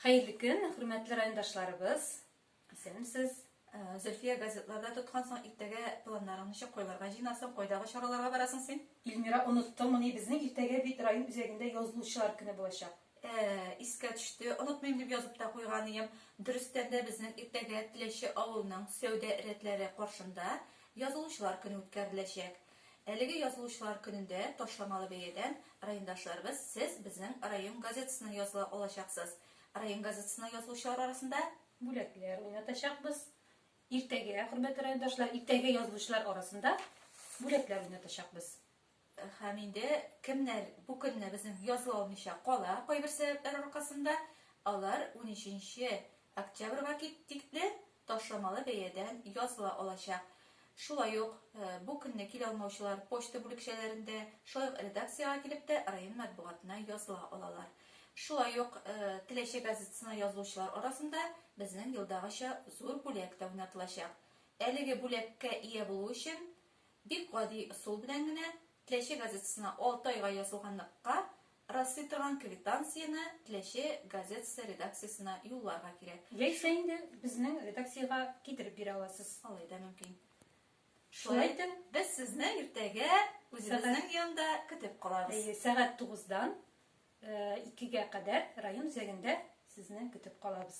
Хәерле көн, хөрмәтле райондашларыбыз. Исәнмесез. Зөлфия газетларда тоткан соң иртәгә планнарың ничек койларга җыенасың, кайдагы чараларга барасың син? Ильмира оныттыңмыни, безнең иртәгә бит район үзәгендә язылучылар көне булачак. Ә, искә төште, онытмыйм дип язып та куйган идем. Дөрестән дә безнең иртәгә Теләче авылының сәүдә рәтләре каршында язылучылар көне үткәреләчәк. Әлеге Язылучылар көнендә ташламалы бәядән райондашларыбыз Сез безнең район газетасына языла алачаксыз. Район газетасына язылучылар арасында. Бүләкләр уйнатачакбыз. Иртәгә, хөрмәтле райондашлар, иртәгә язылучылар арасында бүләкләр уйнатачакбыз. Һәм инде кемнәр бу көнне безнең языла алмыйча кала кайбер сәбәпләр аркасында, алар унөченче Октябрьга тикле ташламалы бәядән языла алачак. Шулай ук бу көнне килә алмаучылар почта бүлекчәләрендә, шулай ук редакциягә килеп тә район матбугатына языла алалар. Шулай ук Теләче газетасына язылучылар арасында безнең елдагыча зур бүләк тә уйнатылачак. Әлеге бүләккә ия булу өчен бик гади ысул белән генә Теләче газетасына алты айга язылганлыкка Раслый торган квитанцияне Теләче газетасы редакциясенә юлларга кирәк. Яисә инде безнең редакциягә китереп бирә аласыз. Алай да мөмкин. Шулай итеп, без сезне иртәгә үзебезнең янда көтеп калабыз. Әйе, сәгать тугыздан икегә кадәр район үзәгендә сезне көтеп калабыз.